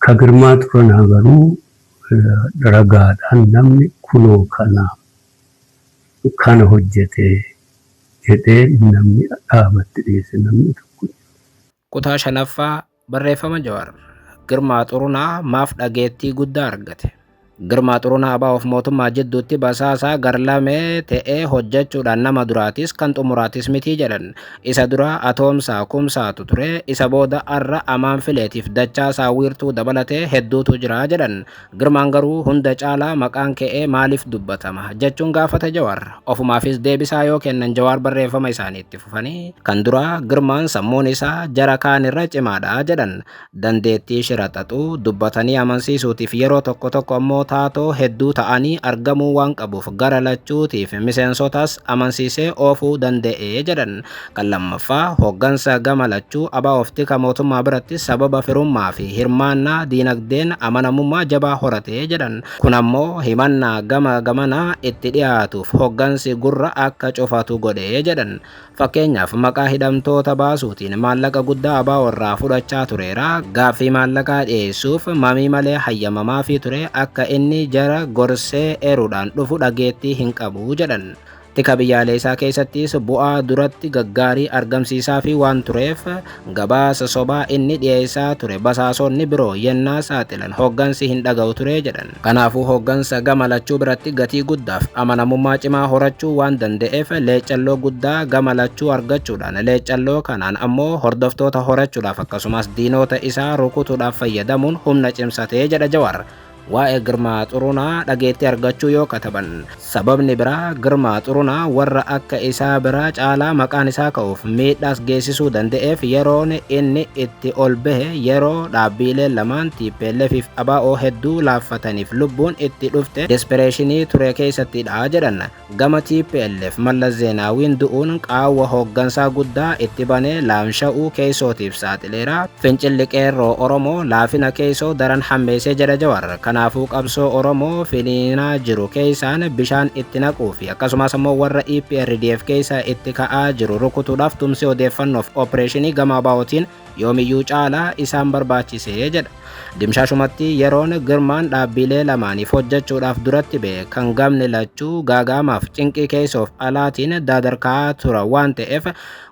Ka Girmaa Xuranaa garuu ragaadhaan namni kunoo kana kana hojjete jedhee namni dhaabatti dhiyeesse namni tokko hin jiru. Kutaa 5ffaa, Barreeffama Jawar Girmaa Xurunaa maaf dhageettii guddaa argate? Girmaa Xurunaa ABOf mootummaa jidduutti basaasaa garlamee ta'ee hojjechuudhaan nama duraatis kan xumuraatis miti jedhan. Isa dura Atoomsaa, Kumsaatu ture, isa booda har'a Amaan Fileetiif Dachaasaa Wiirtuu dabalatee hedduutu jira jedhan. Girmaan garuu hunda caalaa maqaan ka'ee maaliif dubbatama? jechuun gaafata Jawaar. Ofumaafis deebisaa yoo kennan Jawaar barreeffama isaanii itti fufanii kan duraa Girmaan sammuun isaa jara kaanirra cimaadha jedhan. dandeettii shira xaxuu, dubbatanii amansiisuutiif yeroo tokko tokko ammoo taatoo hedduu ta'anii argamuu waan qabuuf gara lachuutiif miseensotas amansiisee oofuu danda'e jedhan. Kan lammaffaa, hoggansa gama lachuu ABOf tika mootummaa biratti sababa firummaafi hirmaannaa diinagdeen amanamummaa jabaa horate jedhan. Kun ammoo himannaa gama gamanaa itti dhiyaatuuf hoggansi gurra akka cufatu godhe jedhan. Fakkeenyaaf, maqaa hidhamtoota baasuutiin maallaqa guddaa ABO irraa fudhachaa tureera. Gaaffii maallaqaa dhiyeessuuf mamii malee hayyamamaafii ture. Akka inni jara gorsee eeruudhaan dhufu dhageettii hin qabu, jedhan. Tika biyyaaleessaa keessattis bu'aa duratti gaggaarii argamsiisaafii waan tureef Gabaasa sobaa inni dhiyeessaa ture basaasonni biroo yennaa saaxilan hoggansi hin dhaga'u ture jedhan. Kanaafuu hoggansa gama lachuu biratti gatii guddaaf amanamummaa cimaa horachuu waan danda'eef leeccalloo guddaa gama lachuu argachuudhaan leeccalloo kanaan ammoo hordoftoota horachuudhaaf akkasumas diinoota isaa rukutuudhaaf fayyadamuun humna cimsate jedha Jawaar. Waa'ee Girmaa Xurunaa dhageettii argachuu yoo kataban sababni biraa Girmaa Xurunaa warra akka isaa biraa caalaa maqaan isaa ka'uuf miidhaas geessisuu danda'eef yeroon inni itti ol bahe yeroo dhaabbiileen lamaan TPLF fi ABO hedduu laaffataniif lubbuun itti dhufte despereeshinii ture keessattidha jedhan. Gama tplf Mallas Zeenaawiin du'uun qaawwa hooggansaa guddaa itti banee laamsha'uu keeysootiif saaxileera. Fincilli Qeerroo Oromoo laafina keeysoo daran hammeeyse jedha Jawar. Kanaafuu qabsoo Oromoo finiinaa jiru keeysaan bishaan itti naquu fi akkasumaas ammoo warra EPRDF keeysaa itti ka'aa jiru rukutuudhaaf tumsi odeeffannoof opereeshinii gama ABOtiin yoomiyyuu caalaa isaan barbaachise jedha. Dimshaashumatti yeroon Girmaan dhaabbiilee lamaaniif hojjechuudhaaf duratti ba'e kan gamni lachuu gaagaamaaf cinqii keessoof alaatiin daadarkaa tura waan ta'eef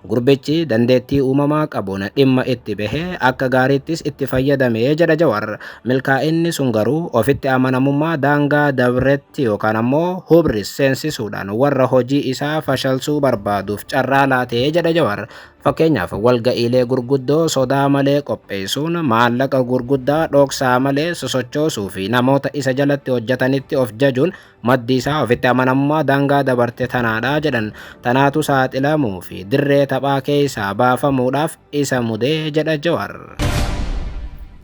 gurbichi dandeettii uumamaa qabuun dhimma itti bahe akka gaariittis itti fayyadame jedha Jawar. Milkaa'inni sun garuu ofitti amanamummaa daangaa dabretti yookaan ammoo hubris seensisuudhaan warra hojii isaa fashalsuu barbaaduuf carraa laatee jedha Jawar. Fakkeenyaaf, walga'iilee gurguddoo sodaa malee qopheessuun, maallaqa gurguddaa dhoksaa malee sosochoosuu fi namoota isa jalatti hojjetanitti of jajuun maddi isaa ofitti amanamummaa daangaa dabarte tanaadha jedhan. Tanaatu saaxilamuu fi dirree taphaa keessaa baafamuudhaaf isa mude jedha Jawaar.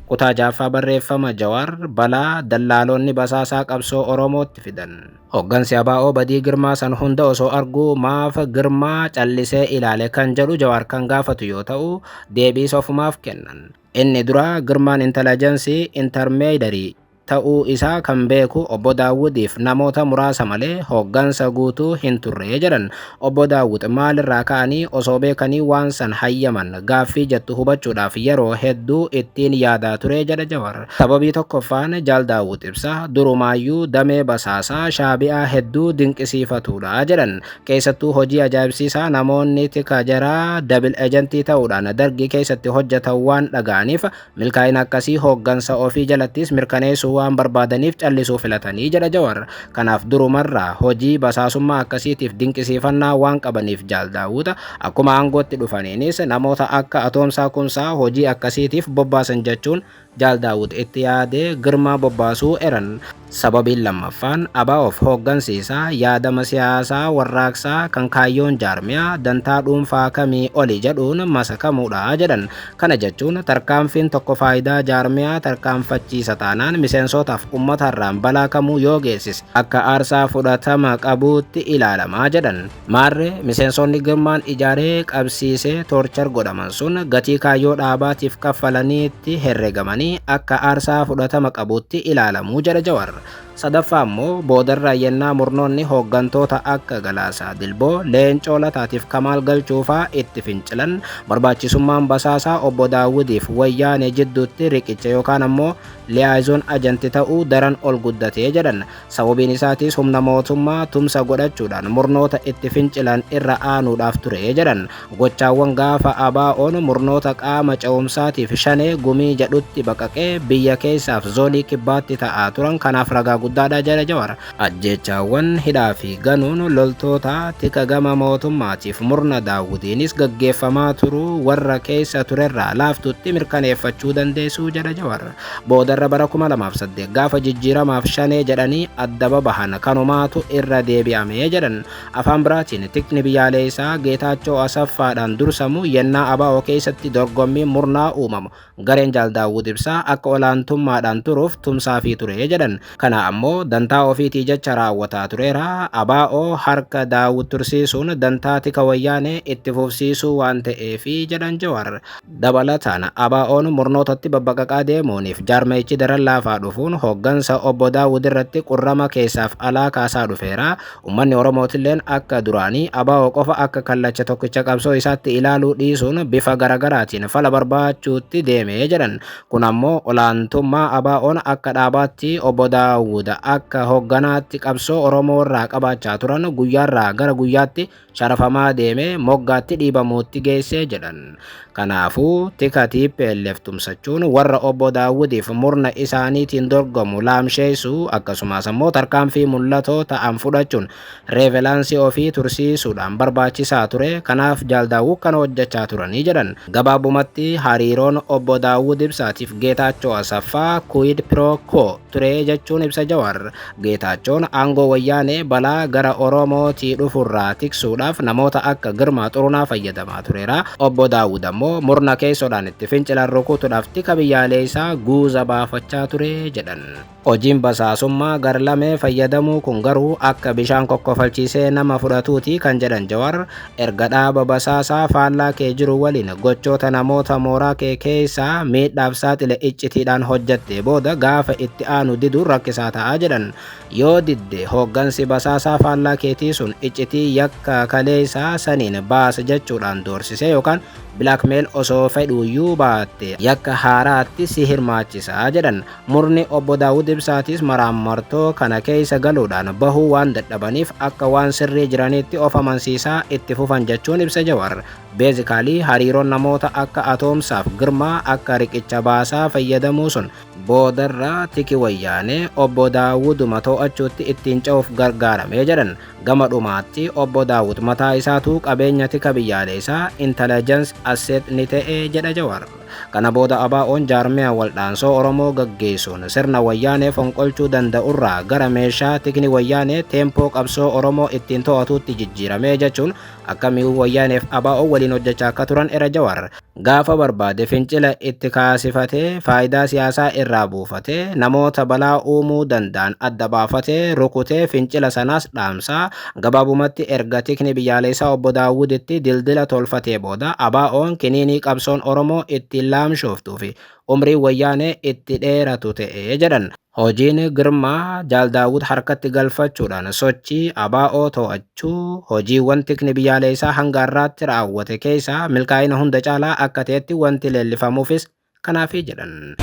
Kutaa 6ffaa Barreeffama Jawaar, Balaa dallaaloonni basaasaa qabsoo Oromootti fidan. Hoggansi ABO badii Girmaa san hunda osoo arguu maaf Girmaa callisee ilaale kan jedhu Jawaar kan gaafatu yoo ta'u, deebiis ofumaaf kennan. Inni duraa Girmaan Intalajansii, Intermeyidary, ta'uu isaa kan beeku Obbo Daawudiif namoota muraasa malee hoggansa guutuu hin turre jedhan. Obbo Daawwit, Maalirraa ka'anii osoo beekanii waan san hayyaman? Gaaffii jettu hubachuudhaaf yeroo hedduu ittiin yaadaa ture jedha Jawar. Sababii tokkoffaan Jaal Daawwit Ibsaa durumaayyuu damee basaasaa Shaabi'aa hedduu dinqisiifatuudha jedhan. Keessattuu hojii ajaa'ibsiisaa namoonni tika jaraa dabil ejentii ta'uudhaan Dargii keessatti hojjatan waan dhaga'aniif, Milkaa'ina akkasii hooggansa ofii jalattis mirkaneessuu waan barbaadaniif callisuu filatanii jedha Jawar. Kanaaf durumarraa hojii basaasummaa akkasiitiif dinqisiifannaa waan qabaniif Jaal Daawuda akkuma aangootti dhufaniinis namoota akka Atoomsaa Kumsaa hojii akkasiitiif bobbaasan jechuun Jaal Daawud itti yaadee Girmaa bobbaasuu eran. Sababiin lammaffaan ABOf hooggansi isaa yaadama siyaasaa warraaqsaa kan kaayyoon jaarmiyaa dantaa dhuunfaa kamii oli jedhuun masakamuudha jedhan. Kana jechuun tarkaanfiin tokko faayidaa jaarmiyaa tarkaanfachiisa taanaan miseensootaaf ummataarraan balaa kamuu yoo geessise akka aarsaa fudhatama qabuutti ilaalama jedhan. Maarre miseensoonni Girmaan ijaaree qabsiise torcher godhaman sun gatii kaayyoo dhaabaatiif kaffalaniitti herregamanii akka aarsaa fudhatama qabuutti ilaalamu jedha Jawar. Sadaffaa ammoo boodarra yennaa murnoonni hooggantoota akka Galaasaa Dilboo, Leencoo Lataatiif Kamaal Galchuu faa itti fincilan barbaachisummaan basaasaa Obbo Daawudiif Wayyaanee jidduutti riqicha yookaan ammoo liaison agent ta'uu daran ol guddate jedhan. Sababiin isaatis humna mootummaa tumsa godhachuudhaan murnoota itti fincilan irra aanuudhaaf ture jedhan. Gochaawwan gaafa ABOn murnoota qaama ce'umsaatiif shanee gumii jedhutti baqaqee biyya keessaaf zoonii kibbaatti ta'aa turan kanaaf ragaa guddaadha jedha Jawar. Ajjeechaawwan, hidhaa fi ganuun loltoota tika gama mootummaatiif murna Daawudiinis gaggeeffamaa turuu warra keessa turerraa laaftuutti mirkaneeffachuu dandeessu jedha Jawar. Boodarra bara 2008 gaafa jijjiiramaaf shanee jedhanii adda babahan kanumaatu irra deebi'ame jedhan. Afaan biraatiin tikni biyyaaleessaa Geetaachoo Asaffaadhaan dursamu yennaa ABO keessatti dorgommiin murnaa uumamu gareen Jaal Daawud Ibsaa akka olaantummaadhaan turuuf tumsaafii ture jedhan. Kana ammoo dantaa ofiitii jecha raawwataa tureera. ABO harka Daawud tursiisuun dantaa tika Wayyaanee itti fufsiisuu waan ta'eefi jedhan Jawar. Dabalataan ABOn murnootatti babbaqaqaa deemuuniif jaarmayichi daran laafaa dhufuun hoggansa Obbo Daawud irratti qurrama keessaaf alaa kaasaa dhufeera. Ummanni Oromootilleen akka duraanii ABO qofa akka kallacha tokkicha qabsoo isaatti ilaaluu dhiisuun bifa garagaraatiin fala barbaachuutti deeme jedhan. Kun ammoo olaantummaa ABOn akka dhaabaatti obbo Daawud akka hogganaatti qabsoo Oromoo irraa qabaachaa turan guyyaarraa gara guyyaatti sharafamaa deeme moggaatti dhiibamuutti geesse jedhan. Kanaafuu tika TPLF tumsachuun warra obbo Daawudiif murna isaaniitiin dorgomu laamsheessuu akkasumas ammoo tarkaanfii mul'atoo ta'an fudhachuun reevelaansii ofii tursiisuudhaan barbaachisaa ture, kanaaf Jaal Daawud kana hojjechaa turani jedhan. Gabaabumatti hariiroon Obbo Daawud Ibsaatiif Geetaachoo Asaffaa quid pro quo ture jechuun ibsa Jawaar. Geetaachoon aangoo Wayyaanee balaa gara Oromootii dhufurraa tiksuudhaaf namoota akka Girmaa Xurunaa fayyadamaa tureera. Obbo Daawud ammoo murna keessoodhaan itti fincilan rukutudhaaf tika biyyaaleessaa guuza baafachaa ture jedhan. Hojiin basaasummaa garlamee fayyadamuu kun garuu akka bishaan kokkofalchiisee nama fudhatuuti kan jedhan Jawar, erga dhaaba basaasaa faallaa kee jiru waliin gochoota namoota mooraa kee keessa miidhaaf saaxile iccitiidhaan hojjattee booda gaafa itti aanu diduun rakkisaa ta'a jedhan. Yoo didde hooggansi basaasaa faallaa keetii sun iccitii yakka kaleessa saniin baas jechuudhaan doorsisee yookaan blackmail osoo fedhuuyyuu baatte yakka haaraatti si hirmaachisa jedhan. Murni Obbo Daawud Ibsaatis maraammartoo kana keessa galuudhaan bahuu waan dadhabaniif akka waan sirrii jiraniitti of amansiisaa itti fufan jechuun ibsa Jawar. Beezikaalii hariiroon namoota akka Atoomsaaf Girmaa akka riqicha baasaa fayyadamuu sun boodarra tiki wayyaanee Obbo Daawuduma to'achuutti ittiin ce'uuf gargaarame jedhan. Gama dhumaatti Obbo Daawud mataa isaatu qabeenya tika biyyaaleesaa, intelligence asset, ni ta'e jedha Jawar. Kana booda ABOn jaarmiya waldhaansoo Oromoo gaggeessuun sirna Wayyaanee fonqolchuu danda'urraa gara meeshaa tikni Wayyaanee teempoo qabsoo Oromoo ittiin to'atuutti jijjiirame jechuun akka mi'uu Wayyaaneef ABO waliin hojjechaa akka turan era Jawaar gaafa barbaade fincila itti kaasifatee faayidaa siyaasaa irraa buufatee namoota balaa uumuu danda'an adda baafatee rukutee fincila sanaas dhaamsaa Gabaabumatti erga Tikni Biyyaaleessaa Obbo Daawud itti dildila tolfatee booda ABOn kiniinii qabsoon Oromoo ittiin laamshooftuu fi umriin Wayyaanee itti dheeratu ta'e jedhan. Hojiin Girmaa, Jaal Daawud harkatti galfachuudhaan sochii ABO to'achuu hojiiwwan Tikni Biyyaaleessaa hanga har'aatti raawwate keessaa milkaa'ina hunda caalaa akka ta'etti wanti leellifamuufis Kanaafii jedhan.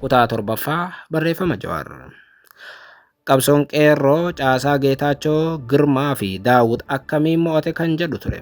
Kutaa torbaffaa barreeffama Jawaar. Qabsoon qeerroo caasaa Geetaachoo, Girmaa fi Daawud akkamiin mo'ate kan jedhu ture.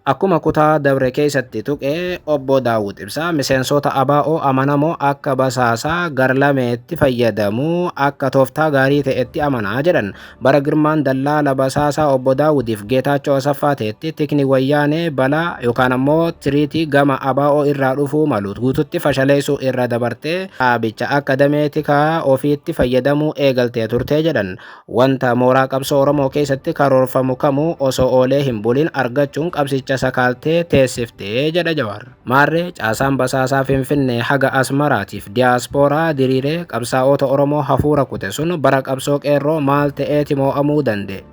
Akkuma kutaa dabre keessatti tuqe obbo Daawud Ibsaa miseensota ABO amanamoo akka basaasaa garlameetti fayyadamuu akka tooftaa gaarii ta'etti amanaa jedhan. Bara Girmaan Dallaala Basaasaa Obbo Daawudiif Geetaachoo Asaffaa ta'etti tikni Wayyaanee balaa yookaan ammoo tiriitii gama ABO irraa dhufuu malu guututti fashaleessuu irra dabartee dhaabicha akka damee tikaa ofiitti fayyadamuu eegaltee turte jedhan. Wanta mooraa qabsoo Oromoo keessatti karoorfamu kamuu osoo oolee hin bulin argachuun qabsicha sakaaltee teessifte jedha Jawaar. Maarree caasaan basaasaa Finfinnee haga Asmaraatiif diyaaspooraa diriiree qabsaa'oota Oromoo hafuura kute sun bara qabsoo qeerroo maal ta'eeti moo'amuu danda'e?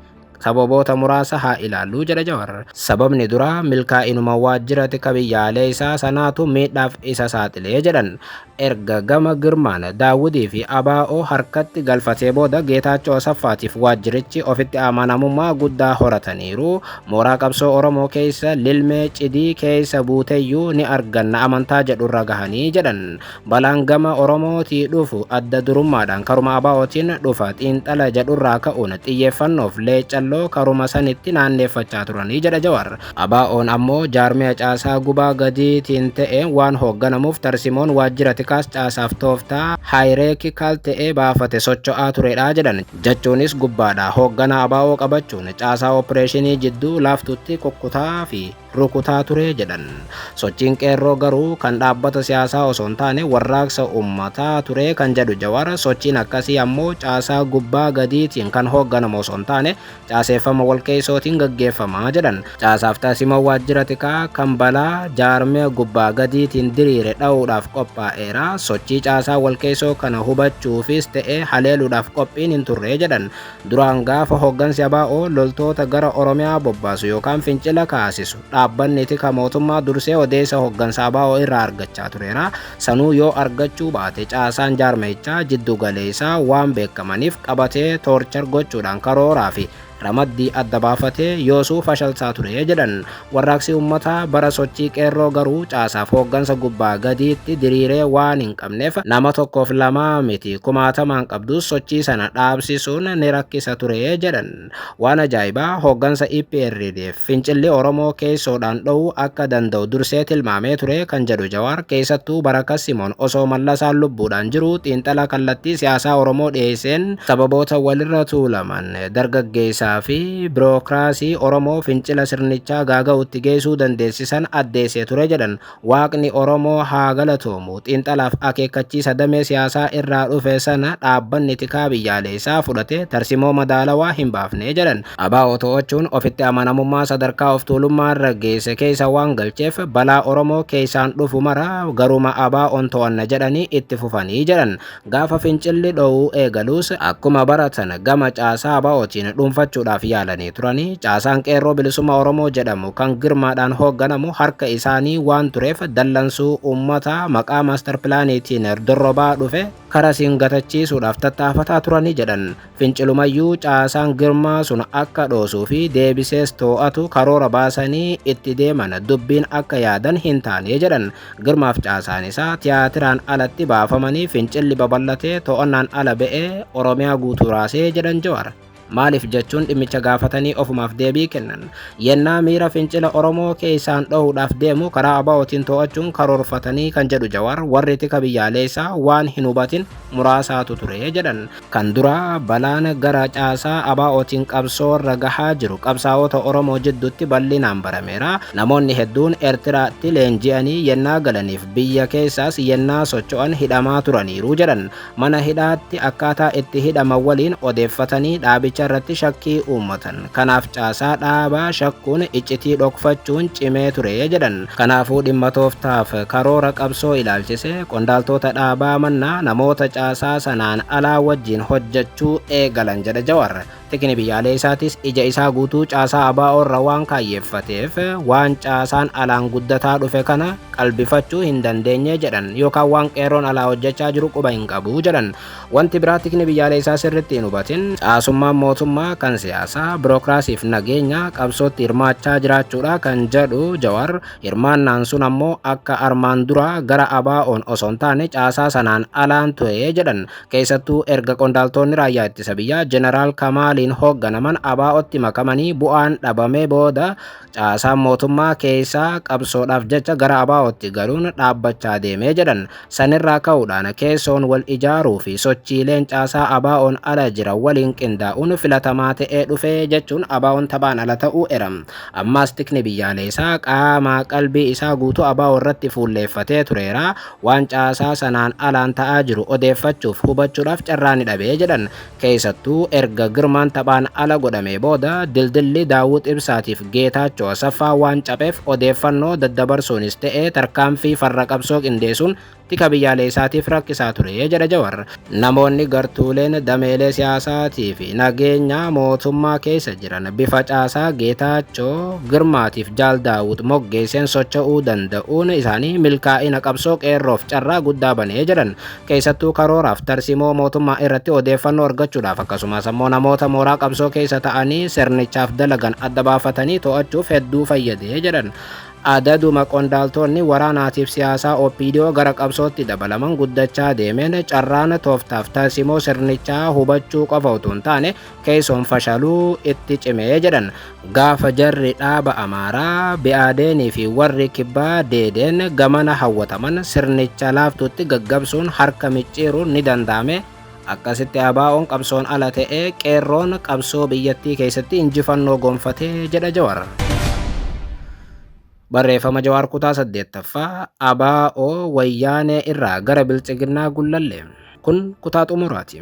Sababoota muraasa haa ilaallu jedha Jawar. Sababni duraa milkaa'inuma waajjira tika biyyaaleessaa sanaatu miidhaaf isa saaxile jedhan. Erga gama Girmaan, Daawudii fi ABO harkatti galfatee booda Geetaachoo Asaffaatiif waajjirichi ofitti amanamummaa guddaa horataniiru. Mooraa qabsoo Oromoo keessa lilmee, cidii, keessa buuteyyuu ni arganna amantaa jedhurra gahanii jedhan. Balaan gama Oromootii dhufu adda durummaadhaan karuma ABOtiin dhufa xiinxala jedhurraa ka'uun xiyyeeffannoof Leeccalloo karuma sanitti naanneeffachaa turani jedha Jawaar. ABOn ammoo jaarmiya caasaa gubaa gadiitiin ta'een waan hoogganamuuf tarsimoon waajjira tikaas caasaaf tooftaa hierarchical ta'e baafate socho'aa turedha jedhan. Jechuunis gubbaadhaa hoogganaa abo qabachuun caasaa oppireeshinii jidduu laaftuutti kukkutaa fi rukutaa ture jedhan. Sochiin Qeerroo garuu kan dhaabbata siyaasaa osoo hin taane warraaqsa ummataa ture kan jedhu Jawaar, sochiin akkasii ammoo caasaa gubbaa gadiitiin kan hoogganamu osoo hin taane caaseeffama walqeessootiin gaggeeffama jedhan. Caasaaf tarsimoo waajjira tikaa kan balaa jaarmiya gubbaa gadiitiin diriire dha'uudhaaf qophaa'eera. Sochii caasaa walqeessoo kana hubachuufis ta'ee haleeluudhaaf qophiin hin turre jedhan. Duraan gaafa hoggansi ABO loltoota gara Oromiyaa bobbaasu yookaan fincila kaasisu. Dhaabbanni tika mootummaa dursee odeessa hoggansa ABO irraa argachaa tureera. Sanuu yoo argachuu baate caasaan jaarmayichaa jiddu galeessaa waan beekamaniif qabatee toorchar gochuudhaan karooraa fi ramaddii adda baafatee yoosuu fashalsaa ture jedhan. Warraaqsi uummataa bara sochii qeerroo garuu caasaaf hooggansa gubbaa gadiitti diriiree waan hin qabneef nama tokkoof lamaa miti kumaatamaan qabdus sochii sana dhaabsisuun ni rakkisa ture jedhan. Waan ajaa'ibaa hooggansa EPRDF fincilli Oromoo keessoodhaan dho'uu akka danda'u dursee tilmaamee ture kan jedhu Jawaar keessattuu Barakas Simoon osoo Mallasaan lubbuudhaan jiruu xiinxala kallattii siyaasaa Oromoo dhiyeesseen sababoota walirra tuulaman, dargaggeessaa fi birookiraasii Oromoo fincila sirnichaa gaaga'uutti geessuu dandeessisan addeessee ture jedhan. Waaqni Oromoo haa galatoomu! Xiinxalaaf akeekkachiisa damee siyaasaa irraa dhufe sana dhaabbanni tikaa biyyaaleessaa fudhate tarsimoo madaalawaa hin baafne jedhan. Abo to'achuun ofitti amanamummaa sadarkaa of tuulummaarra geesse keessa waan galcheef balaa Oromoo keessaan dhufu mara garuma ABOn to'anna jedhanii itti fufanii jedhan. Gaafa fincilli dho'uu eegalus akkuma baratan gama caasaa ABOtiin dhuunfachuudhaaf yaalanii turani. Caasaan Qeerroo Bilisummaa Oromoo jedhamu kan Girmaadhaan hoogganamu harka isaanii waan tureef dallansuu uummataa maqaa Master Pilaaniitiin dorrobaa dhufe karasiin gatachiisuudhaaf tattaafataa turani jedhan. Fincilumayyuu caasaan Girmaa sun akka dhoosuu fi deebisees too'atu karoora baasanii itti deeman dubbiin akka yaadan hin taane jedhan. Girmaaf caasaan isaa tiyaatiraan alatti baafamanii fincilli babal'atee to'annaan ala ba'ee Oromiyaa guutuu raasee jedhan Jawaar. Maaliif jechuun dhimmicha gaafatanii ofumaaf deebii kennan. Yennaa miira fincila Oromoo keessaan dhohuudhaaf deemu karaa ABOtiin too'achuun karoorfatanii kan jedhu Jawaar, warri tika biyyaaleessaa waan hin hubatin muraasaatu ture jedhan. Kan duraa balaan gara caasaa ABOtiin qabsoorra gahaa jiru qabsaa'ota Oromoo jidduutti bal'inaan barameera. Namoonni hedduun Ertiraatti leenji'anii yennaa galaniif biyya keessaas yennaa socho'an hidhamaa turaniiru jedhan. Mana hidhaatti akkaataa itti hidhaman waliin odeeffatanii dhaabicharratti shakkii uummatan. Kanaaf caasaa dhaabaa shakkuun iccitii dhokfachuun cimee ture jedhan. Kanaafuu dhimma tooftaaf karoora qabsoo ilaalchise qondaaltoota dhaabaa mannaa namoota caasaa sanaan alaa wajjin hojjechuu eegalan jedha Jawar. Tikni biyyaalee isaatis ija isaa guutuu caasaa ABO irra waan kaayyeeffateef waan caasaan alaan guddataa dhufe kana qalbifachuu hin dandeenye jedhan. Yookaan waan qeerroon alaa hojjechaa jiru quba hin qabu jedhan. Wanti biraa tikni biyyaaleessaa sirritti hin hubatin caasummaan mootummaa kan siyaasaa, birookiraasiif nageenya qabsootti hirmaachaa jiraachuudha kan jedhu Jawar, hirmaannaan sun ammoo akka armaan duraa gara ABOn osoo hin taane caasaa sanaan alaan ture jedhan. Keessattuu erga qondaaltoonni raayyaa ittisa biyyaa Jeneraal Kamaaliin hoogganaman ABOtti makamanii bu'aan dhabamee booda caasaan mootummaa keessaa qabsoodhaaf jecha gara ABOtti galuun dhaabbachaa deeme jedhan. Sanirraa ka'uudhaan keessoon wal ijaaruu fi sochiileen caasaa ABOn ala jiran waliin qindaa'uun filatamaa ta'ee dhufe jechuun ABOn taphaan ala ta'uu era. Ammaas tikni biyyaaleesaa qaamaa qalbii isaa guutuu abo irratti fuulleeffatee tureera. Waan caasaa sanaan alaan ta'aa jiru odeeffachuuf, hubachuudhaaf carraa ni dhabe jedhan. Keessattuu erga Girmaan taphaan ala godhamee booda dildilli Daawwit Ibsaatiif Geetaachoo Asaffaa waan capheef odeeffannoo daddabarsuunis ta'e tarkaanfii farra qabsoo qindeesuun tika biyyaaleessaatiif rakkisaa ture jedha Jawar. Namoonni gartuuleen dameelee siyaasaatiifi nageenyaa mootummaa keessa jiran bifa caasaa Geetaachoo, Girmaatiif Jaal Daawwit moggeesseen socho'uu danda'uun isaanii milkaa'ina qabsoo Qeerroof carraa guddaa bane jedhan. keessattuu karooraaf tarsimoo mootummaa irratti odeeffannoo argachuudhaaf akkasumaas ammoo namoota mooraa qabsoo keessa ta'anii sirnichaaf dalagan adda baafatanii to'achuuf hedduu fayyadee jedhan. Adaduma qondaaltoonni waraanaatiif siyaasaa OPDO gara qabsootti dabalaman guddachaa deemeen carraan tooftaaf tarsimoo sirnichaa hubachuu qofa utuu hin taane keessoon fashaaluu itti cime jedhan gaafa jarri dhaaba amaaraa bi'aadeenii fi warri kibbaa deedeen gamana hawwataman sirnicha laaftuutti gaggabsuun harka micciiruun ni danda'ame akkasitti abaa'oon qabsoon ala ta'ee qeerroon qabsoo biyyattii keessatti injifannoo gonfatee jedha jawar. Barreeffama Jawaar Kutaa 8ffaa ABO Wayyaanee irraa gara Biltsiginnaa Gullallee. Kun kutaa xumuraati.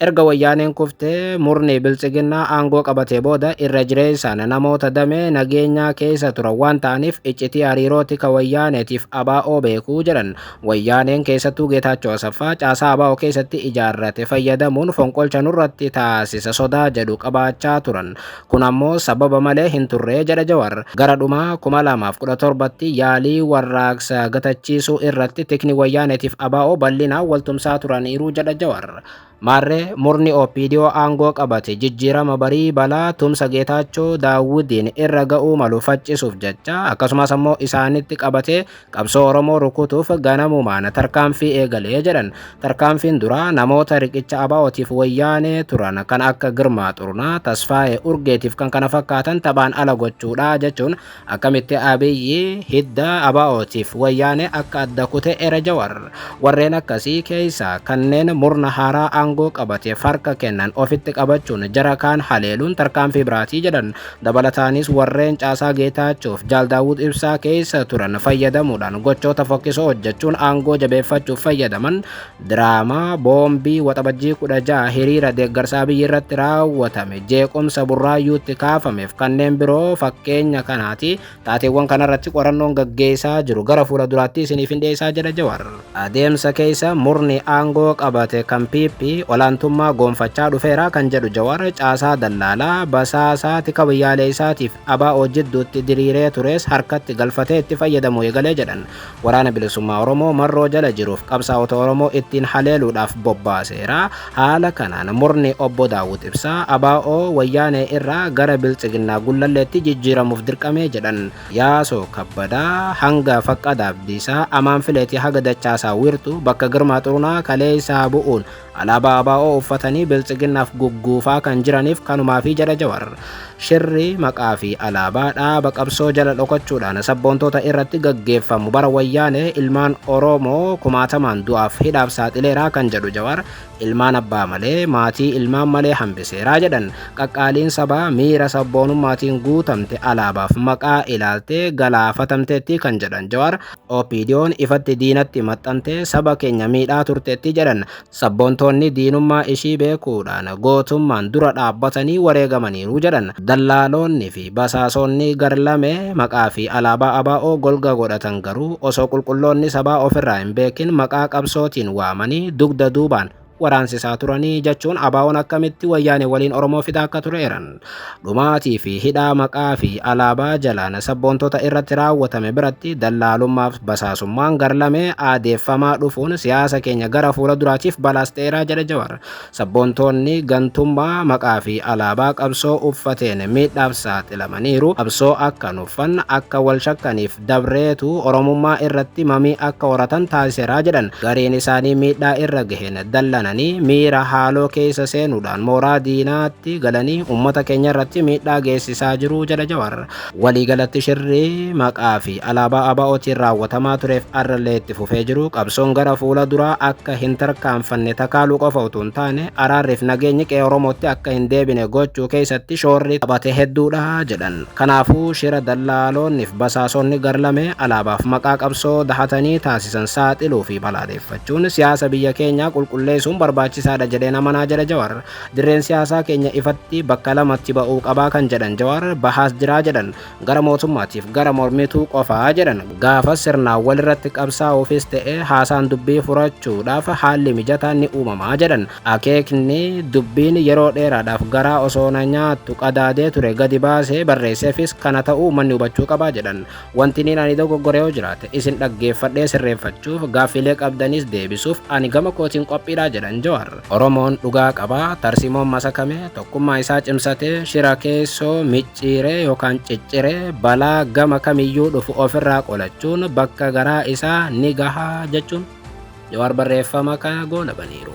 Erga Wayyaaneen kuftee murni Biltsiginnaa aangoo qabatee booda irra jireessaan namoota damee nageenyaa keessa turan waan ta'aniif iccitii hariiroo tika Wayyaaneetiif ABO beekuu jedhan. Wayyaaneen keessattuu Geetaachoo Asaffaa caasaa ABO keessatti ijaarrate fayyadamuun fonqolcha nurratti taasisa sodaa jedhu qabaachaa turan. Kun ammoo sababa malee hin turre jedha Jawar. Gara dhuma 2017tti yaalii warraaqsa gatachiisuu irratti tikni Wayyaaneetiif ABO bal'inaan waltumsaa turaniiru jedha Jawar. Maarree murni OPDO aangoo qabate jijjiirama barii balaa tumsa Geetaachoo Daawudiin irra ga'uu malu faccisuuf jecha akkasumas ammoo isaanitti qabatee Qabsoo Oromoo rukutuuf ganamumaan tarkaanfii eegalee jedhan. Tarkaanfiin duraa namoota riqicha ABOtiif wayyaanee turan kan akka Girmaa Xurunaa, Tasfaayee Urgeetiif kan kana fakkaatan taphaan ala gochuudha jechuun akkamitti Abiyyi hidda ABOtiif wayyaanee akka adda kute era Jawar. Warreen akkasii keessaa kanneen murna haaraa aangoo qabateef harka kennan ofitti qabachuun jara kaan haleeluun tarkaanfii biraatii jedhan. Dabalataanis warreen caasaa Geetaachoof Jaal Daawud Ibsaa keessa turan fayyadamuudhaan gochoota fokkisoo hojjechuun aangoo jabeeffachuuf fayyadaman diraamaa boombii waxabajjii 16 hiriira deeggarsa Abiyyi irratti raawwatame jeequmsa burraayyuutti kaafameef kanneen biroo fakkeenya kanaati Taateewwan kanarratti qorannoon gaggeessaa jiru gara fuula duraatti isiniifin dhiyeessaa jedha Jawar. Adeemsa keessa murni aangoo qabate kan PP olaantummaa goonfachaa dhufeera kan jedhu Jawar caasaa dallaalaa, basaasaa, tika biyyaaleessaatiif ABO jidduutti diriiree turees harkatti galfatee itti fayyadamuu eegale jedhan. Waraana Bilisummaa Oromoo marroo jala jiruuf qabsaa'ota Oromoo ittiin haleeluudhaaf bobbaaseera. Haala kanaan murni Obbo Daawud Ibsaa abo Wayyaanee irraa gara Biltsiginnaa Gullalleetti jijjiiramuuf dirqame jedhan. Yaasoo Kabbadaa hanga Faqqadaa Abdiisaa, Amaan Fileetii haga Dachaasaa Wiirtuu, bakka Girmaa Xurunaa kaleessaa bu'uun Alaabaa ABO uffatanii Biltsiginnaaf gugguufaa kan jiraniif kanumaafi jedha Jawar. Shirri maqaa fi alaabaa dhaaba qabsoo jala dhokachuudhaan sabboontoota irratti gaggeeffamu bara Wayyaanee ilmaan Oromoo kumaatamaan du'aaf hidhaaf saaxileera kan jedhu Jawar, ilmaan abbaa malee, maatii ilmaan malee hambiseera jedhan. Qaqqaaliin sabaa miira sabboonummaatiin guutamte alaabaaf maqaa ilaaltee galaafatamteetti kan jedhan Jawar, OPDOn ifatti diinatti maxxantee saba keenya miidhaa turteetti jedhan sabboontoonni diinummaa ishii beekuudhaan gootummaan dura dhaabbatanii wareegamaniiru jedhan dallaaloonni fi basaasoonni garlame maqaa fi alaabaa ABO golga godhatan garuu osoo qulqulloonni sabaa ofirraa hin beekin maqaa qabsootiin waamanii dugda duubaan waraansisaa turanii jechuun abaawoon akkamitti wayyaane waliin Oromoo fixaa akka ture eran. Dhumaatii fi hidhaa maqaa fi alaabaa jalaan sabboontota irratti raawwatame biratti dallaalummaaf basaasummaan garlame aadeeffamaa dhufuun siyaasa keenya gara fuula duraatiif balaas ta'eeraa jedhe Jawar. Sabboontoonni gantummaa maqaa fi alaabaa qabsoo uffateen miidhaaf saaxilamaniiru. Qabsoo akka nuffan akka wal shakkaniif dabreetu Oromummaa irratti mamii akka horatan taasisera jedhan. Gariin isaanii miidhaa irra gaheen dallananii miira haaloo keessa seenuudhaan mooraa diinaatti galanii uummata keenya irratti miidhaa geessisaa jiru jedha Jawar. Waliigalatti shirri maqaa fi alaabaa ABOtiin raawwatamaa tureef arrallee itti fufee jiru qabsoon gara fuula duraa akka hin tarkaanfanne takaaluu qofa utuu hin taane araarriif nageenyi qe'ee Oromootti akka hin deebine gochuu keessatti shoorri taphate hedduudha jedhan. Kanaafuu shira dallaaloonnif basaasonni garlamee alaabaaf maqaa qabsoo dahatanii taasisan saaxiluu fi balaadeeffachuun siyaasa biyya keenyaa qulqulleesuun barbaachisaadha jedheen amanaa jedha Jawar. Dirreen siyaasaa keenya ifatti bakka lamatti ba'uu qabaa kan jedhan Jawar, bahaas jiraa jedhan. Gara mootummaatiif gara mormituu qofa jedhan. Gaafas sirnaan walirratti qabsaa'uufis ta'ee haasaan dubbii furachuudhaaf haalli mijataan ni uumamaa jedhan. Akeekni, dubbiin yeroo dheeraadhaaf garaa osoo na nyaattu qadaadee ture gadi baasee barreesseefis kana ta'uu uummanni hubachuu qaba jedhan. Wantiniin ani dogoggore yoo jiraate isin dhaggeeffadhee sirreeffachuuf, gaaffiilee qabdanis deebisuuf ani gama kootiin qophiidha jedhan Jawaar. Oromoon dhugaa qaba, tarsimoon masakame, tokkummaa isaa cimsatee, shira keessoo micciiree yookaan cicciree balaa gama kamiyyuu dhufu ofirraa qolachuun bakka garaa isaa ni gaha jechuun. Jawaar barreeffama kana goolabaniiru.